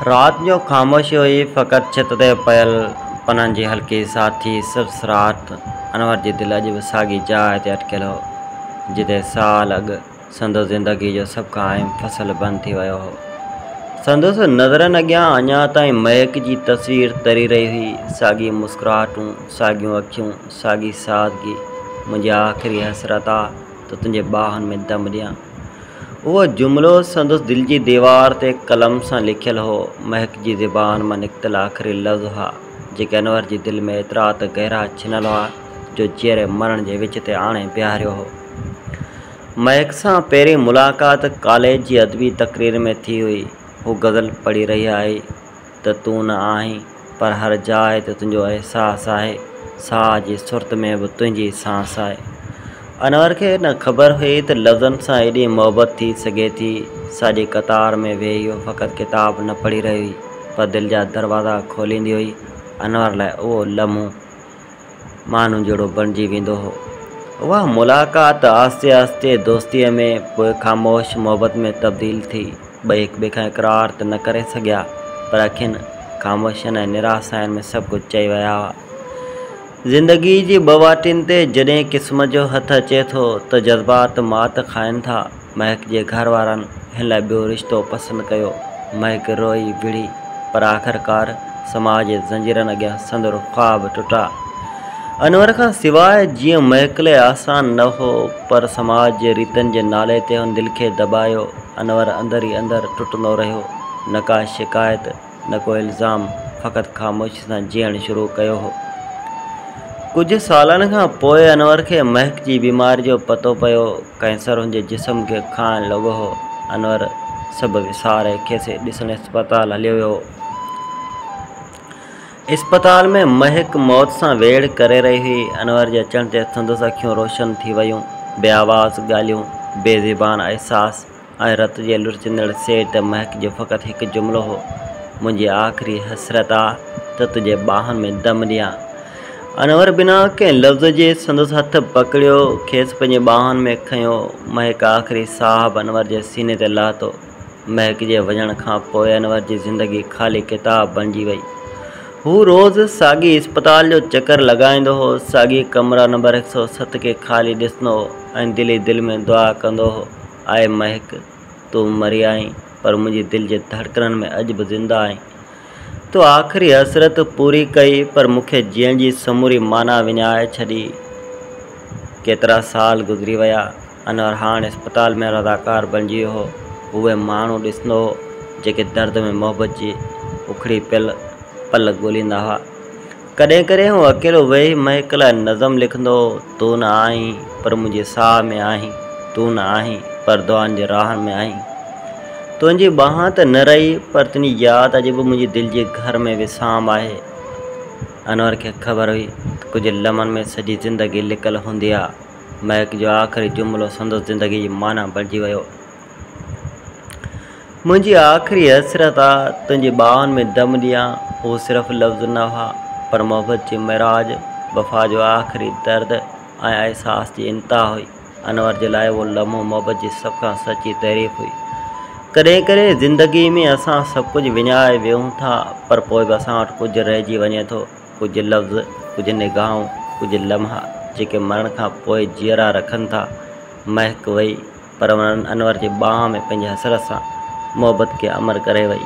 رات جو خاموشي هئي، فقط ڇت تي پيل پنن جي هلڪي ساٿي سرسرات. انور جي دل اڄ به ساڳي جاء تي اٽڪيل هو، جتي سال اڳ سندس زندگيء جو سڀ کان اهم فصل بند ٿي ويو هو. سندس نظرن اڳيان اڃا تائين مهڪ جي تصوير تري رهي هئي، ساڳيون مسڪراهٽون، ساڳيون اکيون، ساڳي سادگي. منهنجي آخري حسرت آ ته تنهنجي ٻانهن ۾ دم ڏيان. اهو جملو سندس دل جي ديوار تي قلم سان لکيل هو. مهڪ جي زبان مان نڪتل آخري لفظ هئا، جيڪي انور جي دل ۾ ايترا ته گهرا ڇنيل هئا، جو جيئري مرڻ جي وچ تي آڻي بيهاريو هو. مهڪ سان پهرين ملاقات ڪاليج جي ادبي تقرير ۾ ٿي هئي. هو غزل پڙهي رهي آهي. ته تون نه آهين، پر هر جاء تي تنهنجو احساس آهي، ساهه جي سرت ۾ به تنهنجي سانس آهي. انور کي نه خبر هئي ته لفظن سان ايڏي محبت ٿي سگهي ٿي. ساڄي قطار ۾ ويهي هوء فقط ڪتاب نه پڙهي رهي هئي، پر دل جا دروازا کوليندي هئي. انور لاء اهو لمحو. ماڻهن جهڙو بڻجي ويندو هو. اها ملاقات آهستي آهستي دوستيء ۾ پوء خاموش محبت ۾ تبديل ٿي. ٻئي هڪٻئي کان اقرار ته نه ڪري سگهيا، پر اکين، خاموشين ۽ نراساين ۾ سڀ ڪجهه چئي ويا هئا. زندگيء جي ٻه واٽين تي جڏهن قسمت جو هٿ اچي ٿو ته جذبات مات کائين ٿا. مهڪ جي گهر وارن هن لاء ٻيو رشتو پسند ڪيو. مهڪ روئي وڙهي پر آخرڪار سماج جي زنجيرن اڳيان سندر خواب ٽٽا. انور کان سواء جيئن مهڪ لاء آسان نه هو پر سماج جي ريتن جي نالي تي هن دل کي دٻايو. انور اندر ئي اندر ٽٽندو رهيو. نه ڪا شڪايت. نه ڪو الزام، فقط خاموشي سان جيئڻ شروع ڪيو هو. ڪجهه سالن کان پوء انور کي مهڪ جي بيماري جو پتو پيو، ڪئنسر هن جي جسم کي کائڻ لڳو هو. انور سڀ وساري کيس ڏسڻ اسپتال هليو ويو هو. اسپتال ۾ مهڪ موت سان ويڙهه ڪري رهي هئي. انور جي اچڻ تي سندس اکيون روشن ٿي ويون. بي آواز ڳالهيون، بي زبان احساس. ۽ رت جي لڙهچندڙ سيٽ مهڪ جو فقط هڪ جملو هو، منهنجي آخري حسرت آ ته تنهنجي ٻانهن ۾ دم ڏيان. انور بنا ڪنهن لفظ جي سندس هٿ پڪڙيو، کيس پنهنجي ٻانهن ۾ کنيو. مهڪ آخري ساهه به انور جي سيني تي لاتو. مهڪ جي وڃڻ کان پوء انور جي زندگي خالي ڪتاب بڻجي وئي. هو روز ساڳي اسپتال جو چڪر لڳائيندو هو، ساڳي ڪمرا نمبر هڪ سؤ ست کي خالي ڏسندو هو ۽ دل ئي دل ۾ دعا ڪندو هو. آء مهڪ! تون مري آهين، پر منهنجي دل جي ڌڙڪنن ۾ اڄ به زنده آهين. تو آخري حسرت پوري ڪئي، پر مون کي جيئڻ جي سموري معنيٰ وڃائي ڇڏي. ڪيترا سال گذري ويا. انور هاڻ اسپتال ۾ رضاڪار بڻجي ويو هو. هو اهي ماڻهو ڏسندو هو، جيڪي درد ۾ محبت جي اکڙي پيل پل ڳوليندا هئا. ڪڏهن ڪڏهن هو اڪيلو ويهي مهڪ لاء نظم لکندو هو، تون نه آهين پر منهنجي ساهه ۾ آهين، تون نه آهين پر دعائن جي راهن ۾ آهين، تنهنجي ٻانهن ته نه رهي پر تنهنجي ياد اڄ به منهنجي دل جي گهر ۾ وسام آهي. انور کي خبر هئي ته ڪجهه لمحن ۾ سڄي زندگي لڪل هوندي ها. مهڪ جو آخري جملو سندس زندگي جي معنيٰ بڻجي ويو. منهنجي آخري حسرت آ، تنهنجي ٻانهن ۾ دم ڏيان. هو صرف لفظ نه هئا، پر محبت جي معراج، وفا جو آخري درد ۽ احساس جي انتها هئي. انور جي لاء اهو لمحو محبت جي سڀ کان سچي تعريف هئي. ڪڏهن ڪڏهن زندگيء ۾ اسان سڀ ڪجهه وڃائي ويهون ٿا، پر پوء به اسان وٽ ڪجهه رهجي وڃي ٿو، ڪجهه لفظ، ڪجهه نگاهون، ڪجهه لمحا، جيڪي مرڻ کان پوء جيئرا رکن ٿا. مهڪ وئي. پر انهن انور جي ٻانهن ۾ پنهنجي حسرت سان محبت کي امر ڪري وئي.